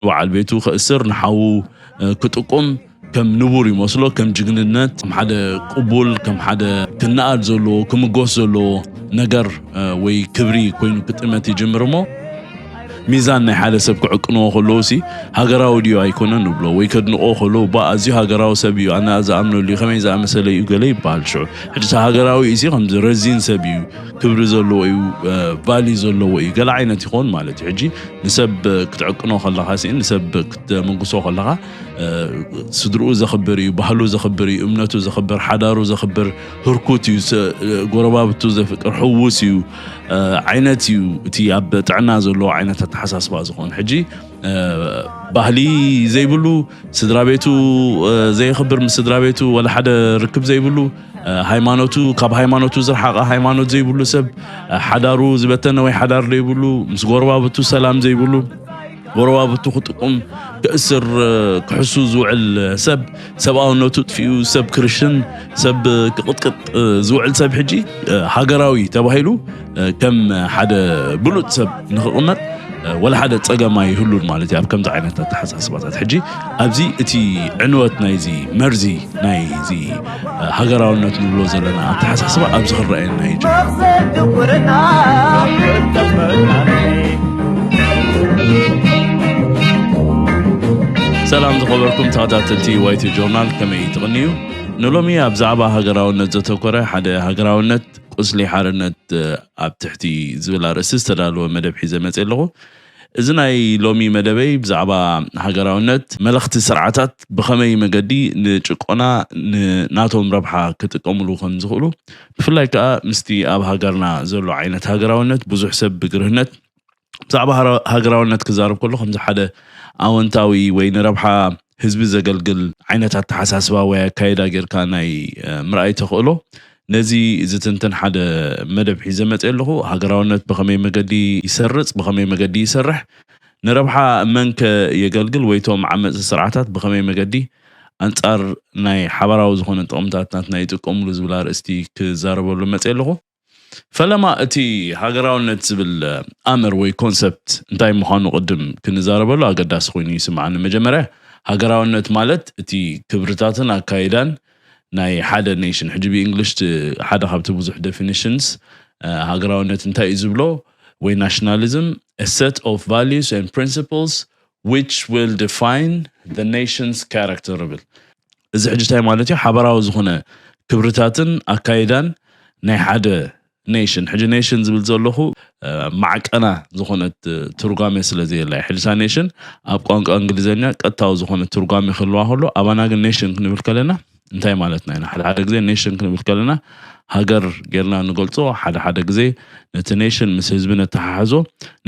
በዓል ቤቱ ከእስር ንሓዉ ክጥቁም ከም ንቡር ይመስሎ ከም ጅግንነት ከም ሓደ ቅቡል ከም ሓደ ክነኣድ ዘለዎ ክምጎስ ዘለዎ ነገር ወይ ክብሪ ኮይኑ ክጥመት ይጅምር እሞ ሚዛን ናይ ሓደ ሰብ ክዕቅንዎ ከለዉ ሲ ሃገራዊ ድዩ ኣይኮነን ንብሎ ወይ ከድንቆ ከለዉ ባ ኣዝዩ ሃገራዊ ሰብ እዩ ኣነ ዝኣምነሉ እዩ ከመይ ዝኣመሰለ እዩ ገለ ይበሃል ሽዑ ሕጂ ሃገራዊ እዩ ሲ ከምዚ ረዚን ሰብ እዩ ክብሪ ዘለዎ እዩ ቫሊ ዘለዎ እዩ ገለ ዓይነት ይኸውን ማለት እዩ ሕጂ ንሰብ ክትዕቅኖ ከለኻ ስእን ንሰብ ክትምጉሶ ከለኻ ስድርኡ ዘኽብር እዩ፣ ባህሉ ዘኽብር እዩ፣ እምነቱ ዘኽብር፣ ሓዳሩ ዘኽብር፣ ህርኩት እዩ፣ ጎረባብቱ ዘፍቅር፣ ሕውስ እዩ ዓይነት እዩ እቲ ኣብ ጥዕና ዘለዎ ዓይነት ኣተሓሳስባ ዝኾን ሕጂ ባህሊ ዘይብሉ ስድራ ቤቱ ዘየኽብር ምስ ስድራ ቤቱ ወላ ሓደ ርክብ ዘይብሉ ሃይማኖቱ ካብ ሃይማኖቱ ዝረሓቐ ሃይማኖት ዘይብሉ ሰብ ሓዳሩ ዝበተነ ወይ ሓዳር ዘይብሉ ምስ ጎረባብቱ ሰላም ዘይብሉ ጎረባብቱ ክጥቁም ክእስር ክሕሱ ዝውዕል ሰብ ሰብኣውነቱ ጥፊኡ ሰብ ክርሽን ሰብ ክቕጥቅጥ ዝውዕል ሰብ ሕጂ ሃገራዊ ተባሂሉ ከም ሓደ ብሉፅ ሰብ ንክቕመጥ ወላ ሓደ ፀገም ኣይህሉን ማለት እዩ ኣብ ከምዚ ዓይነት ኣተሓሳስባታት ሕጂ ኣብዚ እቲ ዕንወት ናይዚ መርዚ ናይዚ ሃገራውነት ንብሎ ዘለና ኣተሓሳስባ ኣብዚ ክረኣየና እዩ ሰላም ዝኸበርኩም ተኸታተልቲ ዋይቲ ጆርናል ከመይ ትቕንዩ ንሎሚ ኣብ ዛዕባ ሃገራውነት ዘተኮረ ሓደ ሃገራውነት ቁስሊ ሓርነት ኣብ ትሕቲ ዝብል ኣርእስቲ ዝተዳለወ መደብ ሒዘ መፅየ ኣለኹ። እዚ ናይ ሎሚ መደበይ ብዛዕባ ሃገራውነት መለኽቲ ስርዓታት ብኸመይ መገዲ ንጭቆና ንናቶም ረብሓ ክጥቀምሉ ከምዝኽእሉ ብፍላይ ከዓ ምስቲ ኣብ ሃገርና ዘሎ ዓይነት ሃገራውነት ብዙሕ ሰብ ብግርህነት ብዛዕባ ሃገራውነት ክዛረብ ከሎ ከምዚ ሓደ ኣወንታዊ ወይ ንረብሓ ህዝቢ ዘገልግል ዓይነት ኣተሓሳስባ ወይ ኣካይዳ ጌርካ ናይ ምርኣይ ተኽእሎ ነዚ ዝትንትን ሓደ መደብ ሒዘ መፅእ ኣለኹ ሃገራውነት ብኸመይ መገዲ ይሰርፅ ብኸመይ መገዲ ይሰርሕ ንረብሓ መንከ የገልግል ወይቶም ዓመፅቲ ስርዓታት ብኸመይ መገዲ ኣንጻር ናይ ሓባራዊ ዝኾነ ጥቕምታት ናትና ይጥቀምሉ ዝብል ኣርእስቲ ክዛረበሉ መፅእ ኣለኹ ፈለማ እቲ ሃገራውነት ዝብል ኣምር ወይ ኮንሰፕት እንታይ ምዃኑ ቅድም ክንዛረበሉ ኣገዳሲ ኮይኑ ይስምዓኒ። መጀመርያ ሃገራውነት ማለት እቲ ክብርታትን ኣካይዳን ናይ ሓደ ኔሽን ሕጂ ብእንግሊሽ ሓደ ካብቲ ብዙሕ ደፊኒሽንስ ሃገራውነት እንታይ እዩ ዝብሎ ወይ ናሽናሊዝም a set of values and principles which will define the nation's character ይብል። እዚ ሕጂ እንታይ ማለት እዩ ሓበራዊ ዝኾነ ክብርታትን ኣካይዳን ናይ ሓደ ኔሽን ሕጂ ኔሽን ዝብል ዘለኹ ማዕቀና ዝኾነት ትርጓሜ ስለ ዘየላ እዩ ሕጂታ ኔሽን ኣብ ቋንቋ እንግሊዘኛ ቀጥታዊ ዝኾነ ትርጓሜ ክህልዋ ከሎ ኣባና ግን ኔሽን ክንብል ከለና እንታይ ማለትና ኢና ሓደ ሓደ ግዜ ኔሽን ክንብል ከለና ሃገር ጌርና ንገልጾ ሓደ ሓደ ግዜ ነቲ ኔሽን ምስ ህዝቢ ነተሓሕዞ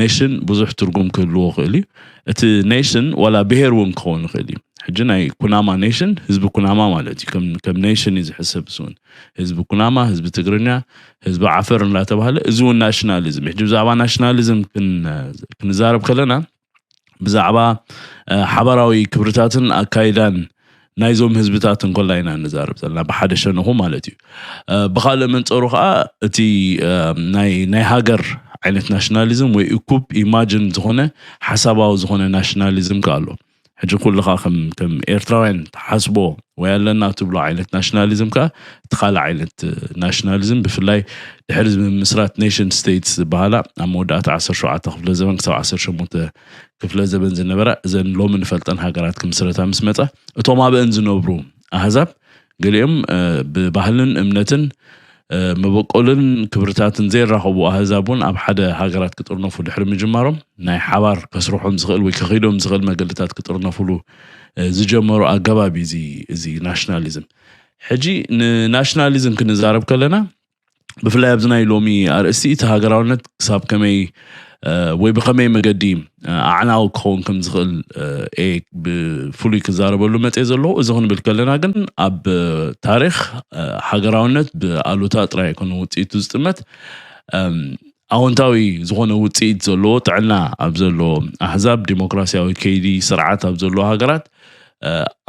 ኔሽን ብዙሕ ትርጉም ክህልዎ ክእል እዩ እቲ ኔሽን ዋላ ብሄር እውን ክኸውን ይኽእል እዩ ሕጂ ናይ ኩናማ ኔሽን ህዝቢ ኩናማ ማለት እዩ ከም ኔሽን እዩ ዝሕሰብ ስውን ህዝቢ ኩናማ ህዝቢ ትግርኛ ህዝቢ ዓፈር እንዳተባሃለ እዚ እውን ናሽናሊዝም ሕጂ ብዛዕባ ናሽናሊዝም ክንዛረብ ከለና ብዛዕባ ሓባራዊ ክብርታትን ኣካይዳን ናይዞም ህዝብታት እንኮላ ኢና ንዛርብ ዘለና ብሓደ ሸንኹ ማለት እዩ ብካልእ መንፀሩ ከዓ እቲ ናይ ሃገር ዓይነት ናሽናሊዝም ወይ እኩብ ኢማጅን ዝኾነ ሓሳባዊ ዝኾነ ናሽናሊዝም ከ ኣሎ ሕጂ ኩልኻ ከም ከም ኤርትራውያን ትሓስቦ ወይ ኣለና ትብሎ ዓይነት ናሽናሊዝም ከኣ እቲ ካልእ ዓይነት ናሽናሊዝም ብፍላይ ድሕሪ ምምስራት ኔሽን ስቴትስ ዝበሃላ ኣብ መወዳእታ 17 ክፍለ ዘበን ክሳብ 18 ክፍለ ዘበን ዝነበራ እዘን ሎሚ ንፈልጠን ሃገራት ክምስረታ ምስ መጻ እቶም ኣብአን ዝነብሩ ኣህዛብ ገሊኦም ብባህልን እምነትን መበቆልን ክብርታትን ዘይራኸቡ ኣህዛብ እውን ኣብ ሓደ ሃገራት ክጥርነፉ ድሕሪ ምጅማሮም ናይ ሓባር ከስርሖም ዝኽእል ወይ ከኺዶም ዝኽእል መገድታት ክጥርነፍሉ ዝጀመሩ ኣገባብ እዩ እዚ ናሽናሊዝም ሕጂ ንናሽናሊዝም ክንዛረብ ከለና ብፍላይ ኣብዚ ናይ ሎሚ ኣርእስቲ እቲ ሃገራውነት ክሳብ ከመይ ወይ ብኸመይ መገዲ ኣዕናዊ ክኸውን ከም ዝኽእል ኤ ብፍሉይ ክዛረበሉ መፀ ዘለዎ እዚ ክንብል ከለና ግን ኣብ ታሪክ ሃገራውነት ብኣሉታ ጥራይ ኣይኮነ ውፅኢቱ ዝጥመት ኣዎንታዊ ዝኾነ ውፅኢት ዘለዎ ጥዕና ኣብ ዘለዎ ኣሕዛብ ዲሞክራሲያዊ ከይዲ ስርዓት ኣብ ዘለዎ ሃገራት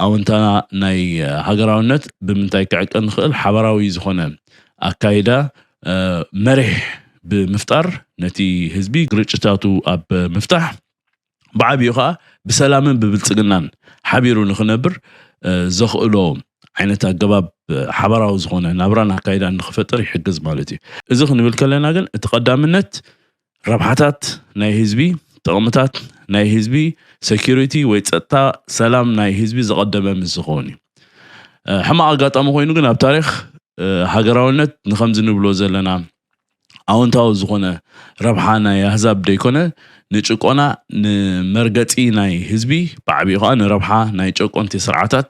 ኣወንታና ናይ ሃገራውነት ብምንታይ ክዕቀን ንኽእል ሓበራዊ ዝኾነ ኣካይዳ መሪሕ ብምፍጣር ነቲ ህዝቢ ግርጭታቱ ኣብ ምፍታሕ ብዓብኡ ከዓ ብሰላምን ብብልፅግናን ሓቢሩ ንኽነብር ዘኽእሎ ዓይነት ኣገባብ ሓበራዊ ዝኾነ ናብራን ኣካይዳን ንኽፈጥር ይሕግዝ ማለት እዩ እዚ ክንብል ከለና ግን እቲ ቀዳምነት ረብሓታት ናይ ህዝቢ፣ ጥቕምታት ናይ ህዝቢ፣ ሰኪሪቲ ወይ ፀጥታ ሰላም ናይ ህዝቢ ዘቐደመ ምስ ዝኸውን እዩ። ሕማቕ ኣጋጣሚ ኮይኑ ግን ኣብ ታሪኽ ሃገራውነት ንኸምዚ ንብሎ ዘለና ኣወንታዊ ዝኾነ ረብሓ ናይ ኣህዛብ ደይኮነ ንጭቆና ንመርገፂ ናይ ህዝቢ ብዓብኡ ከዓ ንረብሓ ናይ ጨቆንቲ ስርዓታት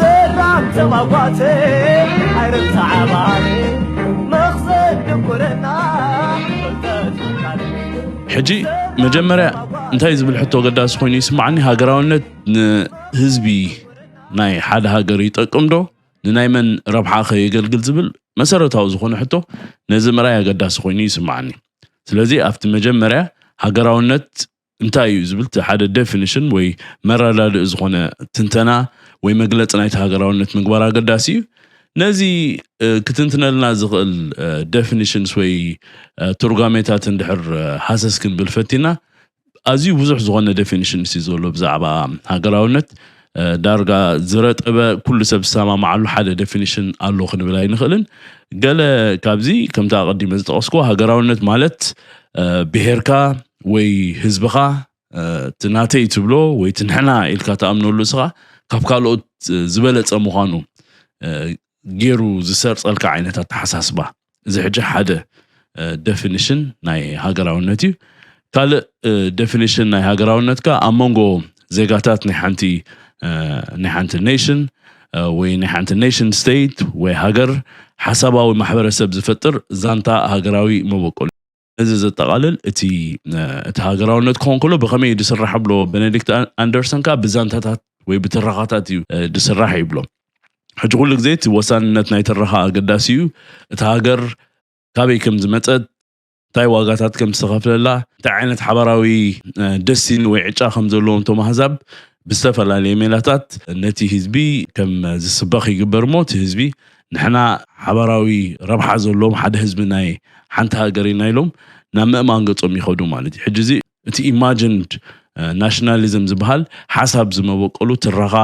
ሰላም ተማጓተይ ኣይረሳ ዓባሪ መኽዘን ድንቁርና ፍልጠት ውቃለይ ሕጂ መጀመርያ እንታይ ዝብል ሕቶ ገዳሲ ኮይኑ ይስማዓኒ ሃገራውነት ንህዝቢ ናይ ሓደ ሃገር ይጠቅም ዶ ንናይ መን ረብሓ ከ የገልግል ዝብል መሰረታዊ ዝኾነ ሕቶ ነዚ ምርኣይ ኣገዳሲ ኮይኑ ይስማዓኒ ስለዚ ኣብቲ መጀመርያ ሃገራውነት እንታይ እዩ ዝብል እቲ ሓደ ዴፊኒሽን ወይ መረዳድኢ ዝኾነ ትንተና ወይ መግለፂ ናይቲ ሃገራውነት ምግባር ኣገዳሲ እዩ። ነዚ ክትንትነልና ዝኽእል ዴፊኒሽንስ ወይ ትርጓሜታት እንድሕር ሃሰስ ክንብል ፈቲና ኣዝዩ ብዙሕ ዝኾነ ዴፊኒሽንስ እዩ ዘሎ ብዛዕባ ሃገራውነት። ዳርጋ ዝረጠበ ኩሉ ሰብ ዝሰማማዓሉ ሓደ ዴፊኒሽን ኣሎ ክንብል ኣይንኽእልን። ገለ ካብዚ ከምቲ ኣቐዲመ ዝጠቐስኩዎ ሃገራውነት ማለት ብሄርካ ወይ ህዝብኻ እቲ ናተይ ትብሎ ወይ እቲ ንሕና ኢልካ ትኣምነሉ እስኻ ካብ ካልኦት ዝበለፀ ምዃኑ ጌሩ ዝሰርጸልካ ዓይነት ኣተሓሳስባ እዚ ሕጂ ሓደ ደፊኒሽን ናይ ሃገራውነት እዩ ካልእ ደፊኒሽን ናይ ሃገራውነት ከ ኣብ መንጎ ዜጋታት ናይ ሓንቲ ናይ ሓንቲ ኔሽን ወይ ናይ ሓንቲ ኔሽን ስቴት ወይ ሃገር ሓሳባዊ ማሕበረሰብ ዝፈጥር ዛንታ ሃገራዊ መበቆል እዚ ዘጠቓልል እቲ እቲ ሃገራውነት ክኸውን ከሎ ብኸመይ እዩ ዝስራሕ ብሎ ቤኔዲክት ኣንደርሰን ከዓ ብዛንታታት ወይ ብትረኻታት እዩ ዝስራሕ ይብሎ ሕጂ ኩሉ ግዜ እቲ ወሳንነት ናይ ትረኻ ኣገዳሲ እዩ እቲ ሃገር ካበይ ከም ዝመፀት እንታይ ዋጋታት ከም ዝተኸፍለላ እንታይ ዓይነት ሓባራዊ ደሲን ወይ ዕጫ ከም ዘለዎም እቶም ኣህዛብ ብዝተፈላለየ ሜላታት ነቲ ህዝቢ ከም ዝስበኽ ይግበር እሞ እቲ ህዝቢ ንሕና ሓባራዊ ረብሓ ዘለዎም ሓደ ህዝቢ ናይ ሓንቲ ሃገር ኢና ኢሎም ናብ ምእማን ገፆም ይኸዱ ማለት እዩ። ሕጂ እዚ እቲ Imagined Nationalism ዝበሃል ሓሳብ ዝመበቆሉ ትረኻ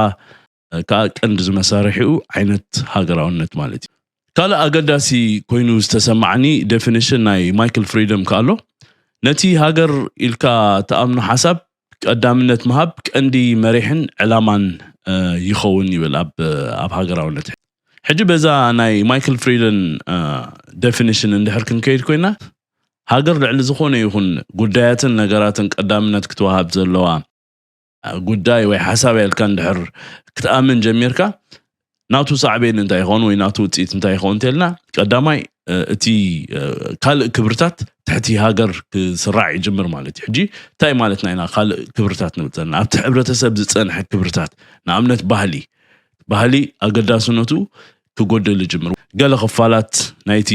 ከኣ ቀንዲ ዝመሳርሒኡ ዓይነት ሃገራውነት ማለት እዩ። ካልእ ኣገዳሲ ኮይኑ ዝተሰማዓኒ Definition ናይ Michael Freedom ከኣ ኣሎ። ነቲ ሃገር ኢልካ ትኣምኖ ሓሳብ ቀዳምነት ምሃብ ቀንዲ መሪሕን ዕላማን ይኸውን ይብል ኣብ ኣብ ሃገራውነት። ሕጂ በዛ ናይ ማይክል ፍሪደን ደፊኒሽን እንድሕር ክንከይድ ኮይና ሃገር ልዕሊ ዝኾነ ይኹን ጉዳያትን ነገራትን ቀዳምነት ክትወሃብ ዘለዋ ጉዳይ ወይ ሓሳብ ኢልካ እንድሕር ክትኣምን ጀሚርካ ናቱ ሳዕቤን እንታይ ይኸውን ወይ ናቱ ውፅኢት እንታይ ይኸውን እንተልና ቀዳማይ እቲ ካልእ ክብርታት ትሕቲ ሃገር ክስራዕ ይጅምር ማለት እዩ ሕጂ እንታይ ማለትና ኢና ካልእ ክብርታት ንብል ዘለና ኣብቲ ሕብረተሰብ ዝፀንሐ ክብርታት ንኣብነት ባህሊ ባህሊ ኣገዳስነቱ ክጎድል ይጅምር ገለ ክፋላት ናይቲ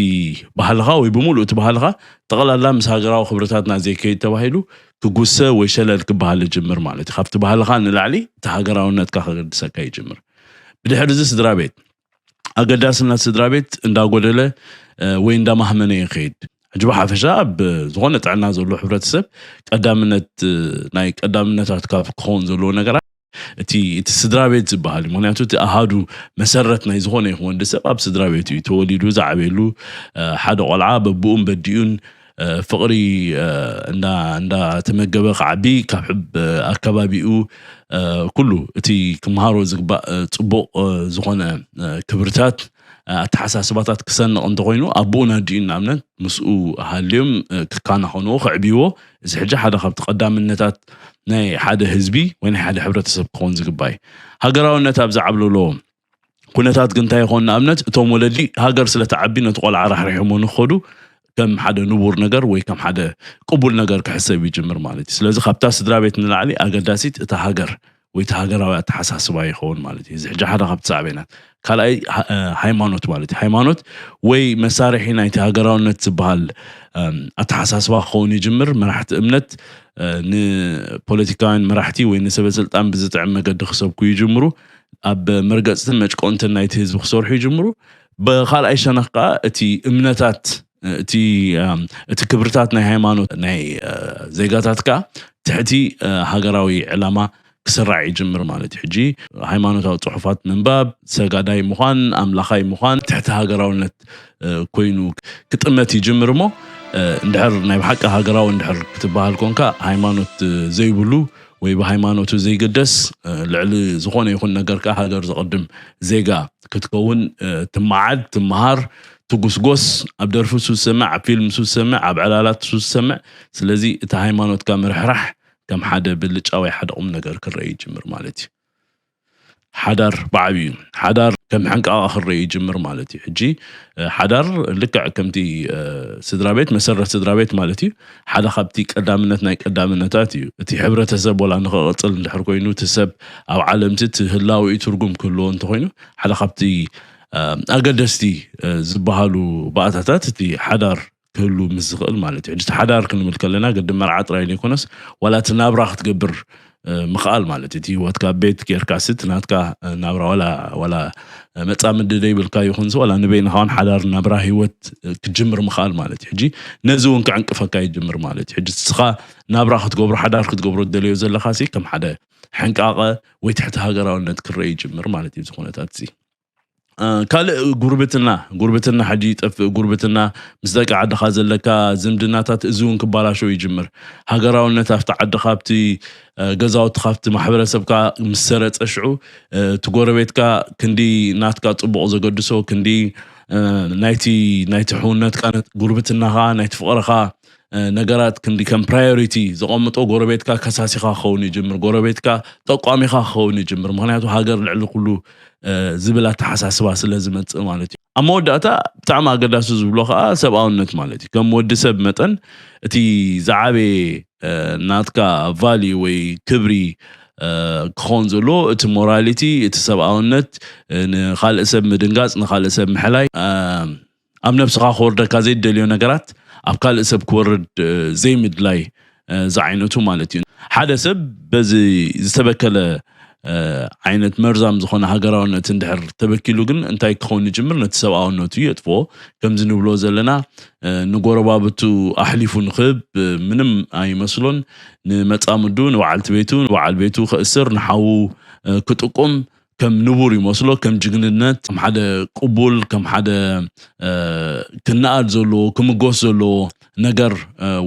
ባህልኻ ወይ ብምሉእ እቲ ባህልኻ ጠቕላላ ምስ ሃገራዊ ክብርታትና ዘይከይድ ተባሂሉ ክጉሰ ወይ ሸለል ክበሃል ይጅምር ማለት እዩ ካብቲ ባህልኻ ንላዕሊ እቲ ሃገራውነትካ ከገድሰካ ይጅምር ብድሕሪ እዚ ስድራ ቤት ኣገዳስነት ስድራ ቤት እንዳጎደለ ወይ እንዳማህመነ እዩ ከይድ ሕጂ ብሓፈሻ ኣብ ዝኾነ ጥዕና ዘሎ ሕብረተሰብ ቀዳምነት ናይ ቀዳምነታት ካብ ክኸውን ዘለዎ ነገራት እቲ እቲ ስድራ ቤት ዝበሃል እዩ ምክንያቱ እቲ ኣሃዱ መሰረት ናይ ዝኾነ ይኹን ወዲ ሰብ ኣብ ስድራ ቤት እዩ ተወሊዱ ዝዓበየሉ ሓደ ቆልዓ በብኡን በዲኡን ፍቕሪ እንዳተመገበ ክዓቢ ካብ ኣከባቢኡ ኩሉ እቲ ክምሃሮ ዝግባእ ፅቡቕ ዝኾነ ክብርታት ኣተሓሳስባታት ክሰንቕ እንተኾይኑ ኣቦኡን ኣዲኡን ንኣብነት ምስኡ ሃልዮም ክከናኸንዎ ከዕብይዎ እዚ ሕጂ ሓደ ካብቲ ቀዳምነታት ናይ ሓደ ህዝቢ ወይ ናይ ሓደ ሕብረተሰብ ክኸውን ዝግባእ እዩ ሃገራውነት ኣብ ዝዓብለሎ ኩነታት ግን እንታይ ይኸውን ንኣብነት እቶም ወለዲ ሃገር ስለ ትዓቢ ነቲ ቆልዓ ራሕሪሖሞ ንክኸዱ ከም ሓደ ንቡር ነገር ወይ ከም ሓደ ቅቡል ነገር ክሕሰብ ይጅምር ማለት እዩ ስለዚ ካብታ ስድራ ቤት ንላዕሊ ኣገዳሲት እታ ሃገር ወይ እቲ ሃገራዊ ኣተሓሳስባ ይኸውን ማለት እዩ እዚ ሕጂ ሓደ ካብቲ ሳዕቤናት ካልኣይ ሃይማኖት ማለት እዩ ሃይማኖት ወይ መሳርሒ ናይቲ ሃገራውነት ዝበሃል ኣተሓሳስባ ክኸውን ይጅምር መራሕቲ እምነት ንፖለቲካውያን መራሕቲ ወይ ንሰበስልጣን ብዝጥዕም መገዲ ክሰብኩ ይጅምሩ ኣብ መርገፅትን መጭቆንትን ናይቲ ህዝቢ ክሰርሑ ይጅምሩ ብካልኣይ ሸነኽ ከዓ እቲ እምነታት እቲ እቲ ክብርታት ናይ ሃይማኖት ናይ ዜጋታት ከዓ ትሕቲ ሃገራዊ ዕላማ ክስራዕ ይጅምር ማለት እዩ ሕጂ ሃይማኖታዊ ፅሑፋት ምንባብ ሰጋዳይ ምዃን ኣምላኻይ ምዃን ትሕቲ ሃገራውነት ኮይኑ ክጥመት ይጅምር እሞ እንድሕር ናይ ብሓቂ ሃገራዊ እንድሕር ክትበሃል ኮንካ ሃይማኖት ዘይብሉ ወይ ብሃይማኖቱ ዘይግደስ ልዕሊ ዝኾነ ይኹን ነገር ከኣ ሃገር ዘቕድም ዜጋ ክትከውን ትመዓድ፣ ትመሃር፣ ትጉስጎስ፣ ኣብ ደርፊ ሱስ ሰምዕ፣ ኣብ ፊልም ሱስ ሰምዕ፣ ኣብ ዕላላት ሱስ ሰምዕ። ስለዚ እቲ ሃይማኖትካ ምርሕራሕ ከም ሓደ ብልጫ ወይ ሓደ ቁምነገር ክረኣ ይጅምር ማለት እዩ። ሓዳር ብዓብዩ ሓዳር ከም ሕንቃቓ ክረእ ይጅምር ማለት እዩ ሕጂ ሓዳር ልክዕ ከምቲ ስድራ ቤት መሰረት ስድራ ቤት ማለት እዩ ሓደ ካብቲ ቀዳምነት ናይ ቀዳምነታት እዩ እቲ ሕብረተሰብ ወላ ንክቕፅል እንድሕር ኮይኑ እቲ ሰብ ኣብ ዓለምቲ እቲ ህላዊ ትርጉም ክህልዎ እንተኮይኑ ሓደ ካብቲ ኣገደስቲ ዝበሃሉ ባእታታት እቲ ሓዳር ክህሉ ምስ ዝኽእል ማለት እዩ ሕጂ ሓዳር ክንብል ከለና ግዲ መርዓ ጥራይ ዘይኮነስ ዋላ እቲ ናብራ ክትገብር ምኽኣል ማለት እዩ እቲ ህይወትካ ቤት ጌርካሲ እቲ ናትካ ናብራ ዋላ ዋላ መፃምዲ ዘይብልካ ይኹንሲ ዋላ ንበይንኻ ውን ሓዳር ናብራ ህይወት ክትጅምር ምኽኣል ማለት እዩ ሕጂ ነዚ እውን ከዕንቅፈካ ይጅምር ማለት እዩ ሕጂ እስኻ ናብራ ክትገብሮ ሓዳር ክትገብሮ ትደለዮ ዘለኻሲ ከም ሓደ ሕንቃቐ ወይ ትሕቲ ሃገራውነት ክረአ ይጅምር ማለት እዩ እዚ ኩነታት እዚ ካልእ ጉርብትና ጉርብትና ሕጂ ይጠፍእ ጉርብትና ምስ ደቂ ዓድኻ ዘለካ ዝምድናታት እዚ እውን ክባላሸው ይጅምር ሃገራውነት ኣብቲ ዓዲ ካብቲ ገዛውቲ ካብቲ ማሕበረሰብካ ምስ ሰረፀ ሽዑ እቲ ጎረቤትካ ክንዲ ናትካ ፅቡቕ ዘገድሶ ክንዲ ናይቲ ናይቲ ሕውነትካ ጉርብትናኻ ናይቲ ፍቕርኻ ነገራት ክንዲ ከም ፕራዮሪቲ ዘቐምጦ ጎረቤትካ ከሳሲኻ ክኸውን ይጅምር ጎረቤትካ ጠቋሚኻ ክኸውን ይጅምር ምክንያቱ ሃገር ልዕሊ ኩሉ ዝብል ኣተሓሳስባ ስለ ዝመፅእ ማለት እዩ ኣብ መወዳእታ ብጣዕሚ ኣገዳሲ ዝብሎ ከዓ ሰብኣውነት ማለት እዩ ከም ወዲ ሰብ መጠን እቲ ዝዓበየ ናትካ ቫሊ ወይ ክብሪ ክኸውን ዘሎ እቲ ሞራሊቲ እቲ ሰብኣውነት ንካልእ ሰብ ምድንጋፅ ንካልእ ሰብ ምሕላይ ኣብ ነብስኻ ክወርደካ ዘይደልዮ ነገራት ኣብ ካልእ ሰብ ክወርድ ዘይምድላይ ዝዓይነቱ ማለት እዩ። ሓደ ሰብ በዚ ዝተበከለ ዓይነት መርዛም ዝኾነ ሃገራውነት እንድሕር ተበኪሉ ግን እንታይ ክኸውን ይጅምር ነቲ ሰብኣውነቱ የጥፍኦ ከምዚ ንብሎ ዘለና ንጎረባብቱ ኣሕሊፉ ንክህብ ምንም ኣይመስሎን ንመጻምዱ ንበዓልቲ ቤቱ ንበዓል ቤቱ ከእስር ንሓዉ ክጥቁም ከም ንቡር ይመስሎ ከም ጅግንነት ከም ሓደ ቅቡል ከም ሓደ ክነኣድ ዘለዎ ክምጎስ ዘለዎ ነገር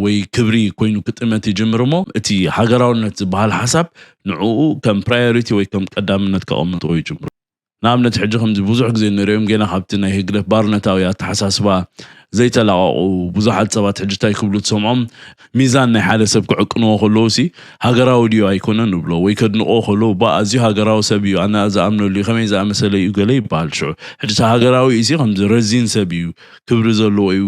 ወይ ክብሪ ኮይኑ ክጥመት ይጅምር እሞ እቲ ሃገራውነት ዝበሃል ሓሳብ ንዕኡ ከም ፕራዮሪቲ ወይ ከም ቀዳምነት ከቐምጦ ይጅምሩ ንኣብነት ሕጂ ከምዚ ብዙሕ ግዜ ንሪኦም ጌና ካብቲ ናይ ህግደፍ ባርነታዊ ኣተሓሳስባ ዘይተላቐቑ ብዙሓት ሰባት ሕጂ እንታይ ክብሉ ትሰምዖም ሚዛን ናይ ሓደ ሰብ ክዕቅንዎ ከለዉሲ ሃገራዊ ድዩ ኣይኮነን ንብሎ ወይ ከድንቕዎ ከለዉ ባእ ኣዝዩ ሃገራዊ ሰብ እዩ ኣነ ዝኣምነሉ እዩ ከመይ ዝኣመሰለ እዩ ገለ ይበሃል ሽዑ ሕጂሲ ሃገራዊ እዩሲ ከምዚ ረዚን ሰብ እዩ ክብሪ ዘለዎ እዩ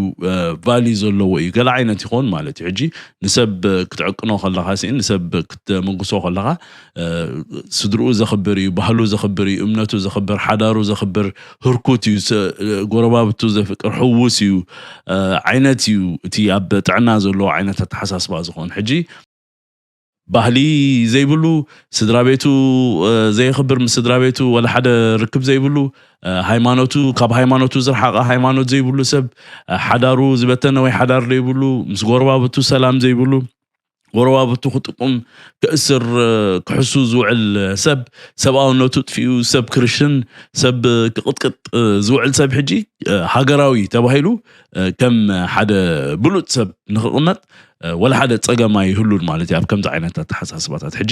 ቫልዩ ዘለዎ እዩ ገለ ዓይነት ይኾን ማለት እዩ ሕጂ ንሰብ ክትዕቅኖ ከለኻሲ ንሰብ ክትምጉሶ ከለኻ ስድርኡ ዘኽብር እዩ፣ ባህሉ ዘኽብር እዩ፣ እምነቱ ዘኽብር፣ ሓዳሩ ዘኽብር፣ ህርኩት እዩ፣ ጎረባብቱ ዘፍቅር፣ ሕውስ እዩ ዓይነት እዩ እቲ ኣብ ጥዕና ዘለዎ ዓይነት ኣተሓሳስባ ዝኾን ሕጂ ባህሊ ዘይብሉ ስድራ ቤቱ ዘየኽብር ምስ ስድራ ቤቱ ወላ ሓደ ርክብ ዘይብሉ ሃይማኖቱ ካብ ሃይማኖቱ ዝረሓቐ ሃይማኖት ዘይብሉ ሰብ ሓዳሩ ዝበተነ ወይ ሓዳር ዘይብሉ ምስ ጎረባብቱ ሰላም ዘይብሉ ጎረባብቱ ክጥቁም ክእስር ክሕሱ ዝውዕል ሰብ ሰብኣውነቱ ጥፊኡ ሰብ ክርሽን ሰብ ክቕጥቅጥ ዝውዕል ሰብ ሕጂ ሃገራዊ ተባሂሉ ከም ሓደ ብሉጽ ሰብ ንክቕመጥ ወላ ሓደ ጸገም ኣይህሉን ማለት እዩ ኣብ ከምዚ ዓይነት ኣተሓሳስባታት ሕጂ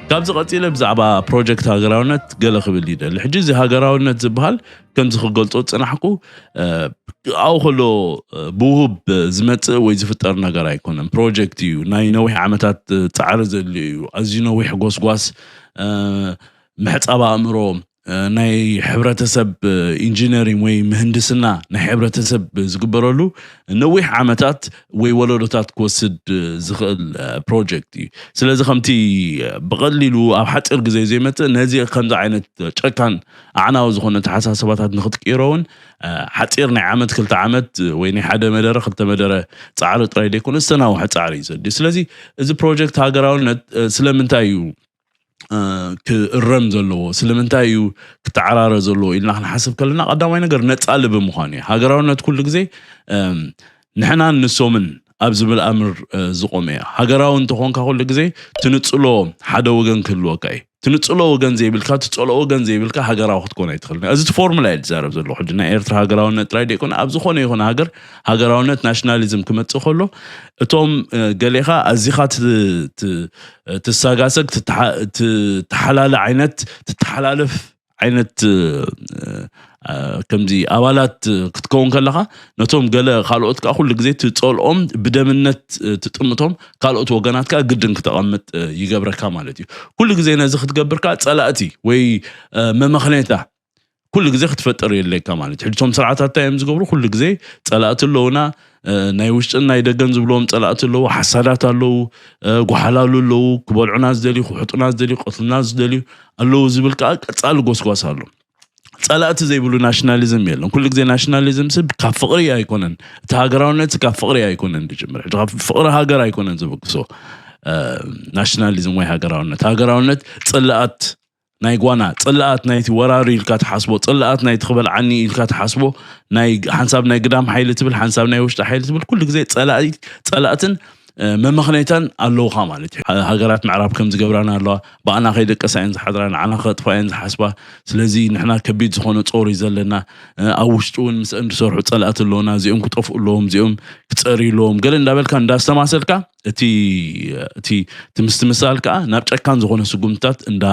ካብዚ ቀጺለ ብዛዕባ ፕሮጀክት ሃገራውነት ገለ ክብል ይደሊ። ሕጂ እዚ ሃገራውነት ዝበሃል ከምዚ ክገልጾ ዝጸናሕኩ ኣብኡ ከሎ ብውሁብ ዝመጽእ ወይ ዝፍጠር ነገር ኣይኮነን። ፕሮጀክት እዩ፣ ናይ ነዊሕ ዓመታት ጻዕሪ ዘድልዮ እዩ፣ ኣዝዩ ነዊሕ ጎስጓስ፣ ምሕጻብ ኣእምሮ፣ ናይ ሕብረተሰብ ኢንጂነሪንግ ወይ ምህንድስና ናይ ሕብረተሰብ ዝግበረሉ ነዊሕ ዓመታት ወይ ወለዶታት ክወስድ ዝኽእል ፕሮጀክት እዩ ስለዚ ከምቲ ብቐሊሉ ኣብ ሓፂር ግዜ ዘይመፅእ ነዚ ከምዚ ዓይነት ጨካን ኣዕናዊ ዝኾነ ተሓሳስባታት ንክትቅይሮ እውን ሓፂር ናይ ዓመት ክልተ ዓመት ወይ ናይ ሓደ መደረ ክልተ መደረ ፃዕሪ ጥራይ ዘይኮነ ዝተናውሐ ፃዕሪ እዩ ዘድልዩ ስለዚ እዚ ፕሮጀክት ሃገራውነት ስለምንታይ እዩ ክእረም ዘለዎ ስለምንታይ እዩ ክተዓራረ ዘለዎ ኢልና ክንሓስብ ከለና ቀዳማይ ነገር ነፃ ልቢ ምዃኑ እዩ ሃገራውነት ኩሉ ግዜ ንሕናን ንሶምን ኣብ ዝብል ኣምር ዝቆመ እዩ ሃገራዊ እንተኾንካ ኩሉ ግዜ ትንፅሎ ሓደ ወገን ክህልወካ እዩ ትንፅሎ ወገን ዘይብልካ ትፀልኦ ወገን ዘይብልካ ሃገራዊ ክትኮን ኣይትኽእል እዚ እቲ ፎርሙላ እዩ ዝዛረብ ዘሎ ሕጂ ናይ ኤርትራ ሃገራውነት ጥራይ ደይኮነ ኣብ ዝኾነ ይኹን ሃገር ሃገራውነት ናሽናሊዝም ክመፅእ ከሎ እቶም ገሌኻ ኣዚኻ ትሳጋሰግ ትተሓላለ ዓይነት ትተሓላለፍ ዓይነት ከምዚ ኣባላት ክትከውን ከለኻ ነቶም ገለ ካልኦት ከዓ ኩሉ ግዜ ትፀልኦም ብደምነት ትጥምቶም ካልኦት ወገናት ከዓ ግድን ክተቐምጥ ይገብረካ ማለት እዩ ኩሉ ግዜ ነዚ ክትገብር ከዓ ፀላእቲ ወይ መመኽነይታ ኩሉ ግዜ ክትፈጥር የድልየካ ማለት ሕጂ እቶም ስርዓታት እንታይ እዮም ዝገብሩ ኩሉ ግዜ ፀላእቲ ኣለውና ናይ ውሽጥን ናይ ደገን ዝብልዎም ፀላእቲ ኣለዉ ሓሳዳት ኣለዉ ጓሓላሉ ኣለዉ ክበልዑና ዝደልዩ ክውሕጡና ዝደልዩ ቀትሉና ዝደልዩ ኣለዉ ዝብል ከዓ ቀፃሊ ጎስጓስ ኣሎ ፀላእቲ ዘይብሉ ናሽናሊዝም የለን ኩሉ ግዜ ናሽናሊዝም ስብ ካብ ፍቅሪ ኣይኮነን እቲ ሃገራውነት ካብ ፍቅሪ ኣይኮነን ዝጅምር ሕጂ ካብ ፍቅሪ ሃገር ኣይኮነን ዝብግሶ ናሽናሊዝም ወይ ሃገራውነት ሃገራውነት ፅላኣት ናይ ጓና ጽልኣት ናይቲ ወራሪ ኢልካ ትሓስቦ ጽልኣት ናይቲ ክበል ዓኒ ኢልካ ትሓስቦ ናይ ሓንሳብ ናይ ግዳም ሓይሊ ትብል ሓንሳብ ናይ ውሽጢ ሓይሊ ትብል ኩሉ ግዜ ጸላኢ ጸላእትን መመኽነይታን ኣለውኻ ማለት እዩ ሃገራት ምዕራብ ከም ዝገብራና ኣለዋ ብኣና ከይደቀሳ እየን ዝሓድራ ንዓና ከጥፋ እየን ዝሓስባ ስለዚ ንሕና ከቢድ ዝኾነ ጾር እዩ ዘለና ኣብ ውሽጢ እውን ምስአን ዝሰርሑ ጸላእቲ ኣለውና እዚኦም ክጠፍኡ ኣለዎም እዚኦም ክጸርዩ ኣለዎም ገለ እንዳበልካ እንዳስተማሰልካ እቲ እቲ እቲ ምስትምሳል ከዓ ናብ ጨካን ዝኾነ ስጉምትታት እንዳ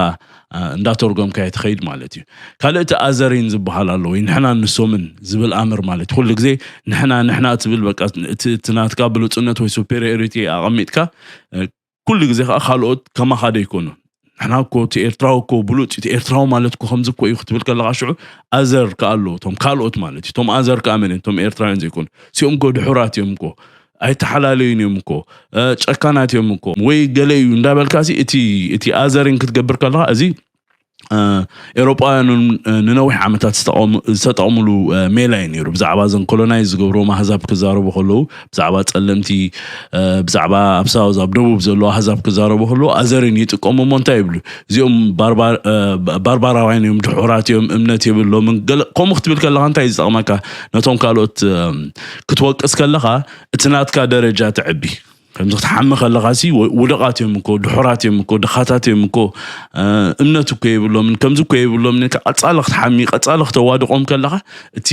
እንዳተርጎምካዮ ትኸይድ ማለት እዩ ካልእ እቲ ኣዘሪን ዝበሃል ኣሎ ወይ ንሕና ንሶምን ዝብል ኣምር ማለት ኩሉ ግዜ ንሕና ንሕና ትብል በቃ እቲ እቲ ናትካ ብሉፅነት ወይ ሱፔሪዮሪቲ ኣቐሚጥካ ኩሉ ግዜ ከዓ ካልኦት ከማኻ ደይኮኑ ንሕና እኮ እቲ ኤርትራዊ እኮ ብሉፅ እቲ ኤርትራዊ ማለት እኮ ከምዚ እኮ እዩ ክትብል ከለካ ሽዑ ኣዘር ከዓ ኣለዎ እቶም ካልኦት ማለት እዩ እቶም ኣዘር ከዓ መን እቶም ኤርትራውያን ዘይኮኑ ሲኦም እኮ ድሑራት እዮም እኮ ኣይተሓላለዩን እዮም እኮ ጨካናት እዮም እኮ ወይ ገለ እዩ እንዳበልካ እቲ እቲ ኣዘርን ክትገብር ከለካ እዚ ኤውሮጳውያን እውን ንነዊሕ ዓመታት ዝተጠቕምሉ ሜላ እዩ ነይሩ ብዛዕባ ዘን ኮሎናይዝ ዝገብርዎም ኣህዛብ ክዛረቡ ከለዉ ብዛዕባ ጸለምቲ ብዛዕባ ኣብ ሳውዝ ኣብ ደቡብ ዘለዉ ኣህዛብ ክዛረቡ ከለዉ ኣዘርን ይጥቀሙ እሞ እንታይ ይብሉ እዚኦም ባርባራውያን እዮም ድሑራት እዮም እምነት የብሎምን ከምኡ ክትብል ከለኻ እንታይ ዝጠቕመካ ነቶም ካልኦት ክትወቅስ ከለኻ እቲ ናትካ ደረጃ ትዕቢ ከምዚ ክትሓሚ ከለኻ ሲ ውደቓት እዮም እኮ ድሑራት እዮም እኮ ድኻታት እዮም እኮ እምነት እኮ የብሎምን ከምዚ እኮ የብሎምን ኢልካ ቀፃሊ ክትሓሚ ቀፃሊ ክተዋድቖም ከለኻ እቲ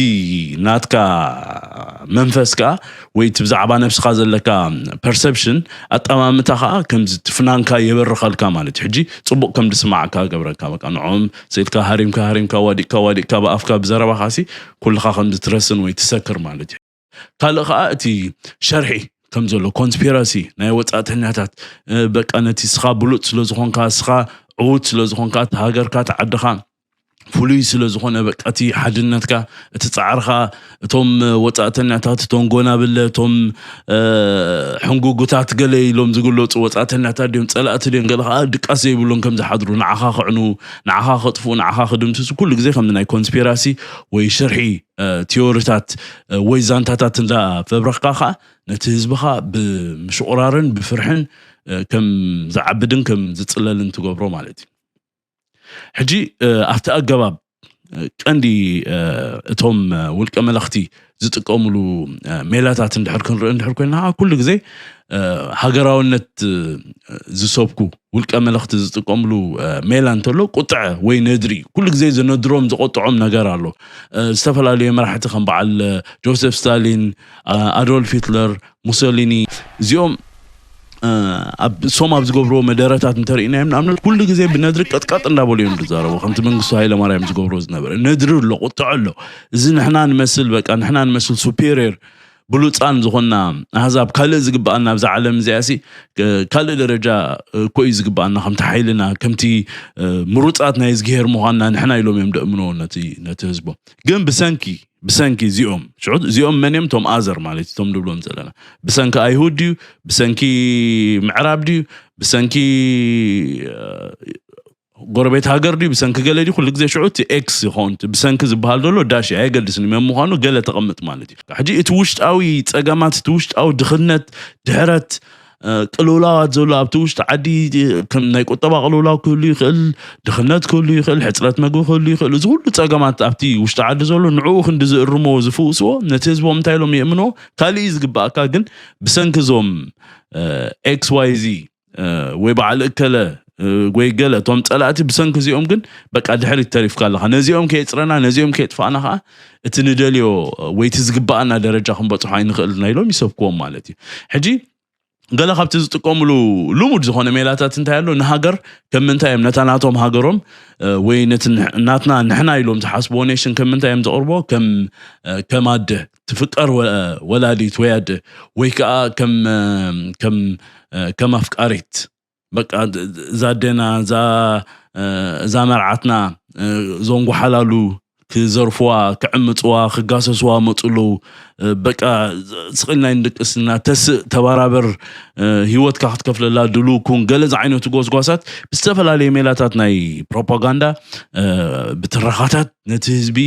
ናትካ መንፈስ ከዓ ወይ እቲ ብዛዕባ ነብስኻ ዘለካ ፐርሰፕሽን ኣጠማምታ ከዓ ከምዚ ትፍናንካ የበርኸልካ ማለት እዩ ሕጂ ፅቡቕ ከም ድስማዕካ ገብረካ በቃ ንዕኦም ስኢልካ ሃሪምካ ሃሪምካ ዋዲቕካ ዋዲቕካ ብኣፍካ ብዘረባኻ ሲ ኩልኻ ከም ዝትረስን ወይ ትሰክር ማለት እዩ ካልእ ከዓ እቲ ሸርሒ ከም ዘሎ ኮንስፒራሲ ናይ ወፃእተኛታት በቃ ነቲ ስኻ ብሉፅ ስለ ዝኾንካ ስኻ ዕዉት ስለ ዝኾንካ እቲ ሃገርካ እቲ ዓድኻ ፍሉይ ስለ ዝኾነ በቃ እቲ ሓድነትካ እቲ ፃዕርኻ እቶም ወፃእተኛታት እቶም ጎናብለ እቶም ሕንጉጉታት ገለ ኢሎም ዝግለፁ ወፃእተኛታት ድዮም ፀላእቲ ድዮም ገለ ከዓ ድቃስ ዘይብሎም ከም ዝሓድሩ ንዓኻ ክዕኑ ንዓኻ ከጥፍኡ ንዓኻ ክድምስሱ ኩሉ ግዜ ከም ናይ ኮንስፒራሲ ወይ ሽርሒ ቲዮሪታት ወይ ዛንታታት እንዳ ፈብረኽካ ከዓ ነቲ ህዝብኻ ብምሽቑራርን ብፍርሕን ከም ዝዓብድን ከም ዝፅለልን ትገብሮ ማለት እዩ ሕጂ ኣብቲ ኣገባብ ቀንዲ እቶም ውልቀ መለኽቲ ዝጥቀምሉ ሜላታት እንድሕር ክንርኢ እንድሕር ኮይና ኩሉ ግዜ ሃገራውነት ዝሰብኩ ውልቀ መለኽቲ ዝጥቀምሉ ሜላ እንተሎ ቁጥዐ ወይ ነድሪ እዩ ኩሉ ግዜ ዝነድሮም ዝቆጥዖም ነገር ኣሎ ዝተፈላለዩ መራሕቲ ከም በዓል ጆሴፍ ስታሊን ኣዶልፍ ሂትለር ሙሶሊኒ እዚኦም ኣብ ሶም ኣብ ዝገብርዎ መደረታት እንተርእናዮም ንኣብነት ኩሉ ግዜ ብነድሪ ቀጥቀጥ እንዳበሉ እዮም ዝዛረቡ ከምቲ መንግስቱ ሃይለ ማርያም ዝገብሮ ዝነበረ ነድሪ ኣሎ ቁጥዐ ኣሎ እዚ ንሕና ንመስል በቃ ንሕና ንመስል ሱፔሪየር ብሉጻን ዝኾንና ኣህዛብ ካልእ ዝግብኣና ኣብዛ ዓለም እዚኣሲ ካልእ ደረጃ እኮ እዩ ዝግብኣና ከምቲ ሓይልና ከምቲ ምሩጻት ናይ እዝግሄር ምዃንና ንሕና ኢሎም እዮም ደእምንዎ ነቲ ነቲ ህዝቦም ግን ብሰንኪ ብሰንኪ እዚኦም ሽዑ እዚኦም መን እዮም እቶም ኣዘር ማለት እዩ እቶም ንብሎም ዘለና ብሰንኪ ኣይሁድ ድዩ ብሰንኪ ምዕራብ ድዩ ብሰንኪ ጎረቤት ሃገር ድዩ ብሰንኪ ገለ ድዩ ኩሉ ግዜ ሽዑ እቲ ኤክስ ይኸውን እቲ ብሰንኪ ዝበሃል ዘሎ ዳሽ እዩ ኣየገድስን እዩ መን ምዃኑ ገለ ተቐምጥ ማለት እዩ ሕጂ እቲ ውሽጣዊ ጸገማት እቲ ውሽጣዊ ድኽነት ድሕረት እ፣ ቅልውላዋት ዘሎ ኣብቲ ውሽጢ ዓዲ እ፣ ከም ናይ ቁጠባ ቅልውላው ክህሉ ይኽእል ድኽነት ክህሉ ይኽእል ሕፅረት መግቢ ክህሉ ይኽእል እዚ ኩሉ ጸገማት ኣብቲ ውሽጢ ዓዲ ዘሎ ንዕኡ ክንዲ ዝእርምዎ ዝፍውስዎ ነቲ ህዝቦም እንታይ ኢሎም የእምንዎ ካልእ እዩ ዝግባኣካ ግን ብሰንኪ እዞም ኤክስ ዋይ ዚ ወይ በዓል እከለ ወይ ገለ እቶም ፀላእቲ ብሰንኪ እዚኦም ግን በቃ ድሕሪት ተሪፍካ ኣለኻ ነዚኦም ከየፅረና ነዚኦም ከየጥፋእና ከዓ እቲ ንደልዮ ወይ እቲ ዝግባኣና ደረጃ ክንበፅሖ ኣይንኽእልና ኢሎም ይሰብክዎም ማለት እዩ ሕጂ ገለ ካብቲ ዝጥቀምሉ ልሙድ ዝኾነ ሜላታት እንታይ ኣሎ ንሃገር ከም ምንታይ እዮም ነታ ናቶም ሃገሮም ወይ ነቲ ናትና ንሕና ኢሎም ዝሓስብዎ ኔሽን ከም ምንታይ እዮም ዘቕርቦ ከም ከም ኣደ ትፍቀር ወላዲት ወይ ኣደ ወይ ከዓ ከም ከም ከም ኣፍቃሪት በቃ እዛ ኣዴና እዛ እዛ መርዓትና እዞም ጓሓላሉ ክዘርፍዋ ክዕምፅዋ ክጋሰስዋ መፁ ኣለዉ በቃ ስቕል ናይ ንድቅስና ተስእ ተባራበር ሂወትካ ክትከፍለላ ድሉ ኩን ገለ ዝዓይነቱ ጎስጓሳት ብዝተፈላለየ ሜላታት ናይ ፕሮፓጋንዳ ብትረኻታት ነቲ ህዝቢ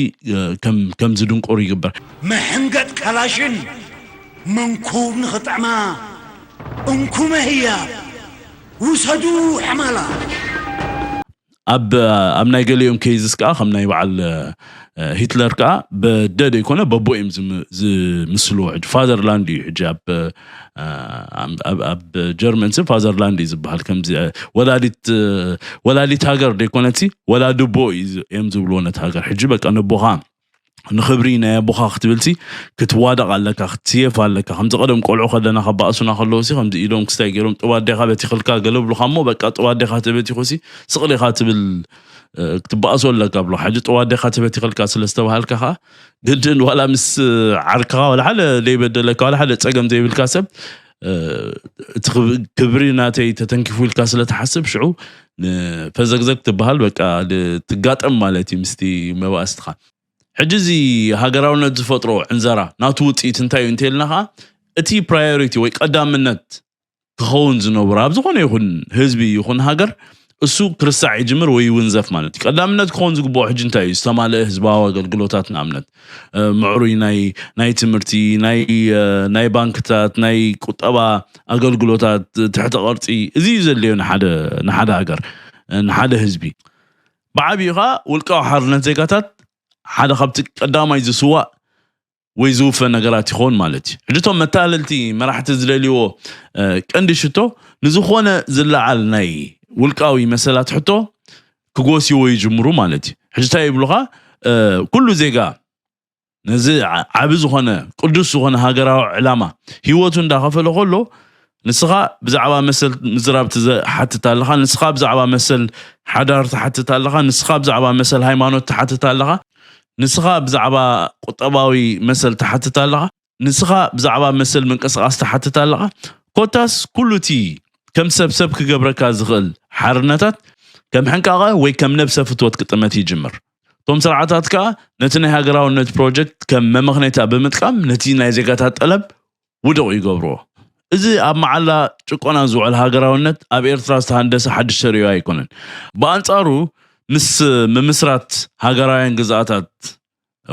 ከም ዝድንቆር ይግበር። መሕንገጥ ካላሽን መንኩብ ንኽጥዕማ እንኩመ ህያብ ውሰዱ ሐማላት። ኣብ ኣብ ናይ ገሊኦም ኬዝስ ከዓ ከም ናይ በዓል ሂትለር ከዓ በደ ዘይኮነ በቦ እዮም ዝምስልዎ ሕጂ ፋዘርላንድ እዩ ሕጂ ኣብ ኣብ ጀርመን ሲ ፋዘርላንድ እዩ ዝበሃል ከምዚ ወላዲት ወላዲት ሃገር ደይኮነትሲ ወላድቦ እዮም ዝብልዎ ነቲ ሃገር ሕጂ በቃ ነቦኻ ንክብሪ ናይ ኣቦኻ ክትብልሲ ክትዋደቕ ኣለካ ክትስየፍ ኣለካ ከምዚ ቀደም ቆልዑ ከለና ካብ ባእሱና ከለዉ ሲ ከምዚ ኢዶም ክስታይ ገይሮም ጥብ ኣዴኻ በቲኽልካ ገለ ብሉኻ እሞ በቃ ጥብ ኣዴኻ ተበቲኹሲ ስቕሊኻ ትብል ክትበኣሶ ኣለካ ብሎ ሕጂ ጥብ ኣዴኻ ተበቲኽልካ ስለ ዝተባሃልካ ከዓ ግድን ዋላ ምስ ዓርክኻ ዋላ ሓደ ዘይበደለካ ዋላ ሓደ ፀገም ዘይብልካ ሰብ እቲ ክብሪ ናተይ ተተንኪፉ ኢልካ ስለትሓስብ ሽዑ ፈዘግዘግ ትበሃል በቃ ትጋጠም ማለት እዩ ምስቲ መባእስትኻ ሕጂ እዚ ሃገራውነት ዝፈጥሮ ዕንዘራ ናቱ ውፅኢት እንታይ እዩ እንተይልና ከዓ እቲ ፕራዮሪቲ ወይ ቀዳምነት ክኸውን ዝነብሮ ኣብ ዝኾነ ይኹን ህዝቢ ይኹን ሃገር እሱ ክርሳዕ ይጅምር ወይ ይውንዘፍ ማለት እዩ ቀዳምነት ክኸውን ዝግብኦ ሕጂ እንታይ እዩ ዝተማልአ ህዝባዊ ኣገልግሎታት ንኣብነት ምዕሩይ ናይ ናይ ትምህርቲ ናይ ናይ ባንክታት ናይ ቁጠባ ኣገልግሎታት ትሕተ ቅርፂ እዚ እዩ ዘድልዮ ንሓደ ንሓደ ሃገር ንሓደ ህዝቢ ብዓብዩ ከዓ ውልቃዊ ሓርነት ዜጋታት ሓደ ካብቲ ቀዳማይ ዝስዋእ ወይ ዝውፈ ነገራት ይኸውን ማለት እዩ ሕጂ እቶም መታለልቲ መራሕቲ ዝደልይዎ ቀንዲ ሽቶ ንዝኾነ ዝለዓል ናይ ውልቃዊ መሰላት ሕቶ ክጎስይዎ ይጅምሩ ማለት እዩ ሕጂ እንታይ ይብሉኻ ኩሉ ዜጋ ነዚ ዓቢ ዝኾነ ቅዱስ ዝኾነ ሃገራዊ ዕላማ ህይወቱ እንዳኸፈለ ከሎ ንስኻ ብዛዕባ መሰል ምዝራብ ትሓትት ኣለኻ፣ ንስኻ ብዛዕባ መሰል ሓዳር ትሓትት ኣለኻ፣ ንስኻ ብዛዕባ መሰል ሃይማኖት ትሓትት ኣለኻ፣ ንስኻ ብዛዕባ ቁጠባዊ መሰል ትሓትት ኣለኻ፣ ንስኻ ብዛዕባ መሰል ምንቅስቓስ ትሓትት ኣለኻ፣ ኮታስ ኩሉ እቲ ከም ሰብ ሰብ ክገብረካ ዝኽእል ሓርነታት ከም ሕንቃቐ ወይ ከም ነብሰ ፍትወት ክጥመት ይጅምር። እቶም ስርዓታት ከኣ ነቲ ናይ ሃገራውነት ፕሮጀክት ከም መመኽነይታ ብምጥቃም ነቲ ናይ ዜጋታት ጠለብ ውዱቕ ይገብርዎ። እዚ ኣብ መዓላ ጭቆና ዝውዕል ሃገራውነት ኣብ ኤርትራ ዝተሃንደሰ ሓድሽ ተርእዮ ኣይኮነን። ብኣንጻሩ ምስ ምምስራት ሃገራውያን ግዝኣታት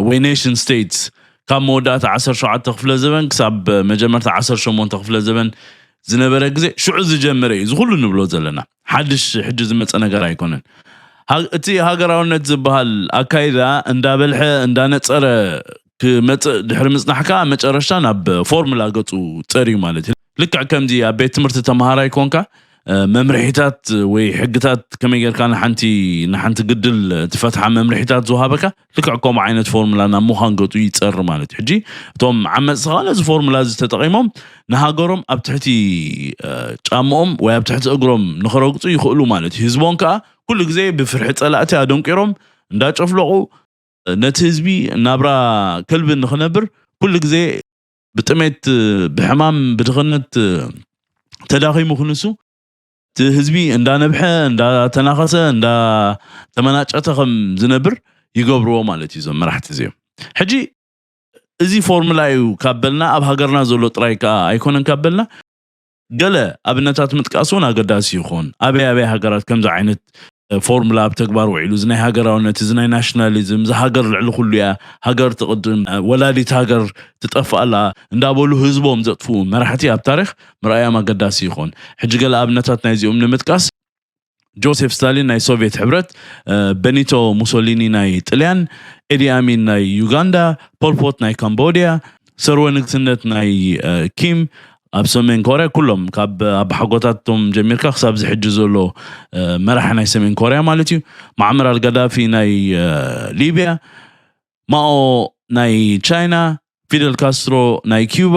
ወይ ኔሽን ስተይትስ ካብ መወዳእታ ዓሰርተ ሸውዓተ ክፍለ ዘበን ክሳብ መጀመርታ ዓሰርተ ሸሞንተ ክፍለ ዘበን ዝነበረ ግዜ ሽዑ ዝጀመረ እዩ እዚ ኩሉ ንብሎ ዘለና። ሓድሽ ሕጂ ዝመጸ ነገር ኣይኮነን። እቲ ሃገራውነት ዝበሃል ኣካይዳ እንዳበልሐ እንዳነጸረ ክመጽእ ድሕሪ ምጽናሕ ከኣ ኣብ መጨረሽታ ናብ ፎርሙላ ገጹ ጸርዩ ማለት እዩ። ልክዕ ከምዚ ኣብ ቤት ትምህርቲ ተመሃራይ ኮንካ መምርሒታት ወይ ሕግታት ከመይ ጌርካ ንሓንቲ ንሓንቲ ግድል ትፈትሓ መምርሒታት ዝውሃበካ ልክዕ ከምኡ ዓይነት ፎርሙላ ናብ ምዃን ገጹ ይጸሪ ማለት እዩ። ሕጂ እቶም ዓመጽቲ ከኣ ነዚ ፎርሙላ እዚ ተጠቒሞም ንሃገሮም ኣብ ትሕቲ ጫምኦም ወይ ኣብ ትሕቲ እግሮም ንኽረግጹ ይኽእሉ ማለት እዩ። ህዝቦም ከኣ ኩሉ ግዜ ብፍርሒ ጸላእቲ ኣደንቂሮም እንዳጨፍለቑ ነቲ ህዝቢ ናብራ ከልቢ ንክነብር ኩሉ ግዜ ብጥሜት ብሕማም ብድኽነት ተዳኺሙ ክንሱ እቲ ህዝቢ እንዳነብሐ እንዳተናኸሰ እንዳተመናጨተ ከም ዝነብር ይገብርዎ ማለት እዩ እዞም መራሕቲ እዚኦም ሕጂ እዚ ፎርሙላ እዩ ካብ በልና ኣብ ሃገርና ዘሎ ጥራይ ከዓ ኣይኮነን ካብ በልና ገለ ኣብነታት ምጥቃስ እውን ኣገዳሲ ይኾን። ኣበይ ኣበይ ሃገራት ከምዚ ዓይነት ፎርሙላ ኣብ ተግባር ውዒሉ? እዚ ናይ ሃገራውነት፣ እዚ ናይ ናሽናሊዝም፣ እዛ ሃገር ልዕሊ ኩሉ እያ፣ ሃገር ትቕድም፣ ወላዲት ሃገር ትጠፍእ ኣላ እንዳበሉ ህዝቦም ዘጥፍኡ መራሕቲ ኣብ ታሪኽ ምርኣዮም ኣገዳሲ ይኾን። ሕጂ ገለ ኣብነታት ናይዚኦም ንምጥቃስ። ጆሴፍ ስታሊን ናይ ሶቪየት ሕብረት፣ በኒቶ ሙሶሊኒ ናይ ጥልያን፣ ኤዲ ኣሚን ናይ ዩጋንዳ፣ ፖልፖት ናይ ካምቦድያ፣ ሰርወ ንግስነት ናይ ኪም ኣብ ሰሜን ኮርያ ኩሎም ካብ ኣባሓጎታቶም ጀሚርካ ክሳብ እዚ ሕጂ ዘሎ መራሒ ናይ ሰሜን ኮርያ ማለት እዩ፣ ማዕመር ኣልጋዳፊ ናይ ሊብያ፣ ማኦ ናይ ቻይና፣ ፊደል ካስትሮ ናይ ኪዩባ፣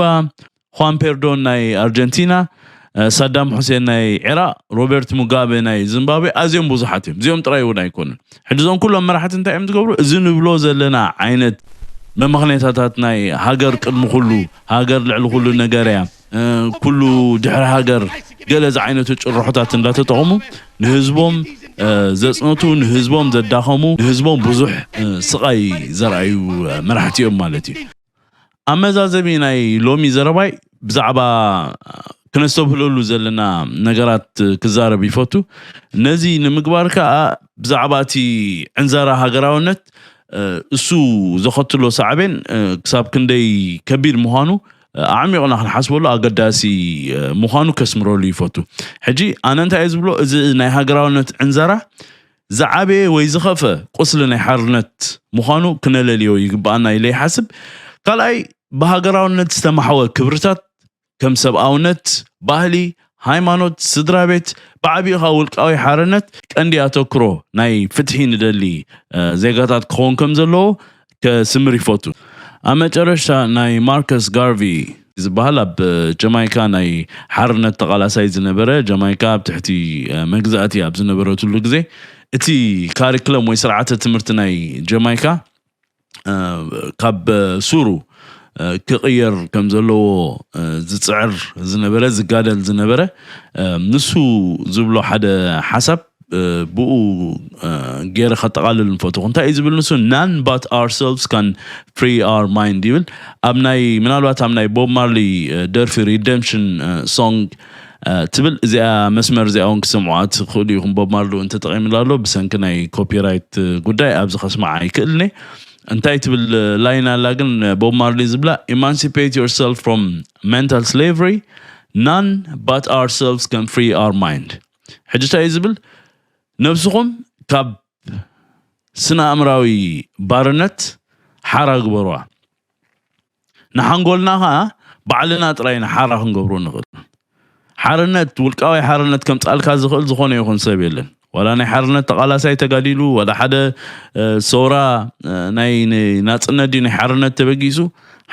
ዃን ፔርዶን ናይ ኣርጀንቲና፣ ሳዳም ሑሴን ናይ ዒራቕ፣ ሮቤርት ሙጋበ ናይ ዚምባብዌ ኣዝዮም ብዙሓት እዮም። እዚኦም ጥራይ እውን ኣይኮኑን። ሕጂ እዞም ኩሎም መራሕቲ እንታይ እዮም ዝገብሩ? እዚ ንብሎ ዘለና ዓይነት መመኽኔታታት ናይ ሃገር ቅድሚ ኩሉ፣ ሃገር ልዕሊ ኩሉ ነገር እያ፣ ኩሉ ድሕሪ ሃገር ገለ ዝዓይነቱ ጭርሖታት እንዳተጠቐሙ ንህዝቦም ዘጽነቱ፣ ንህዝቦም ዘዳኸሙ፣ ንህዝቦም ብዙሕ ስቓይ ዘርኣዩ መራሕቲ እዮም ማለት እዩ። ኣብ መዛዘሚ ናይ ሎሚ ዘረባይ ብዛዕባ ክነስተብህለሉ ዘለና ነገራት ክዛረብ ይፈቱ። ነዚ ንምግባር ከኣ ብዛዕባ እቲ ዕንዘራ ሃገራውነት እሱ ዘኸትሎ ሳዕቤን ክሳብ ክንደይ ከቢድ ምዃኑ ኣዕሚቑና ክንሓስበሉ ኣገዳሲ ምዃኑ ከስምረሉ ይፈቱ። ሕጂ ኣነ እንታይ እየ ዝብሎ እዚ ናይ ሃገራውነት ዕንዘራ ዝዓበየ ወይ ዝኸፍአ ቁስሊ ናይ ሓርነት ምዃኑ ክነለልዮ ይግብኣና ኢለ ይሓስብ። ካልኣይ ብሃገራውነት ዝተማሕወ ክብርታት ከም ሰብኣውነት፣ ባህሊ፣ ሃይማኖት፣ ስድራ ቤት ብዓቢኡ ከኣ ውልቃዊ ሓርነት ቀንዲ ኣተኩሮ ናይ ፍትሒ ንደሊ ዜጋታት ክኸውን ከም ዘለዎ ከስምር ይፈቱ። ኣብ መጨረሽታ ናይ ማርከስ ጋርቪ ዝበሃል ኣብ ጀማይካ ናይ ሓርነት ተቓላሳይ ዝነበረ ጀማይካ ኣብ ትሕቲ መግዛእቲ ኣብ ዝነበረትሉ ግዜ እቲ ካሪክለም ወይ ስርዓተ ትምህርቲ ናይ ጀማይካ ካብ ሱሩ ክቕየር ከም ዘለዎ ዝፅዕር ዝነበረ ዝጋደል ዝነበረ ንሱ ዝብሎ ሓደ ሓሳብ ብኡ ገይረ ከጠቓልል ንፈትኹ እንታይ እዩ ዝብል ንሱ ናን ባት ኣር ሰልቭስ ካን ፍሪ ኣር ማይንድ ይብል ኣብ ናይ ምናልባት ኣብ ናይ ቦብ ማርሊ ደርፊ ሪደምሽን ሶንግ ትብል እዚኣ መስመር እዚኣ እውን ክሰምዑ ኣትኽእሉ ኢኹም ቦብ ማርሊ እውን ተጠቒምላ ኣሎ ብሰንኪ ናይ ኮፒራይት ጉዳይ ኣብዚ ከስማዓ ይክእልኒ እንታይ ትብል ላይን ኣላ ግን ቦብ ማርሊ ዝብላ ኢማንሲፔት ዮር ሰልፍ ፍሮም ሜንታል ስሌቨሪ ናን ባት ኣር ሰልቭስ ካን ፍሪ ኣር ማይንድ ሕጂ እንታይ እዩ ዝብል ነብስኹም ካብ ስነ ኣእምራዊ ባርነት ሓራ ግበሩዋ ንሓንጎልና ከዓ ባዕልና ጥራይ ኢና ሓራ ክንገብሮ ንኽእል ሓርነት ውልቃዊ ሓርነት ከምፃልካ ዝኽእል ዝኾነ ይኹን ሰብ የለን ዋላ ናይ ሓርነት ተቓላሳይ ተጋዲሉ ዋላ ሓደ ሰውራ ናይ ናፅነት ድዩ ናይ ሓርነት ተበጊሱ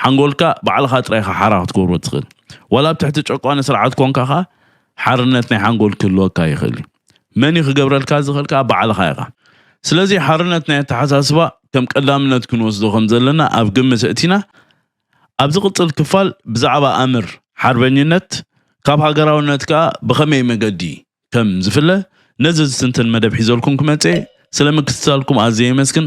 ሓንጎልካ ባዕልኻ ጥራይ ኢኻ ሓራ ክትገብሮ ትኽእል ዋላ ኣብ ትሕቲ ጨቋኒ ስርዓት ኮንካ ኸዓ ሓርነት ናይ ሓንጎል ክህልወካ ይኽእል እዩ። መን እዩ ክገብረልካ ዝኽእል ከኣ ባዕልኻ ኢኻ። ስለዚ ሓርነት ናይ ኣተሓሳስባ ከም ቀዳምነት ክንወስዶ ከም ዘለና ኣብ ግምት ኣእቲና ኣብ ዝቕጽል ክፋል ብዛዕባ ኣምር ሓርበኝነት ካብ ሃገራውነት ከኣ ብኸመይ መገዲ ከም ዝፍለ ነዚ ዝትንትን መደብ ሒዘልኩም ክመጽእ እየ። ስለ ምክትታልኩም ኣዝየ የመስግን።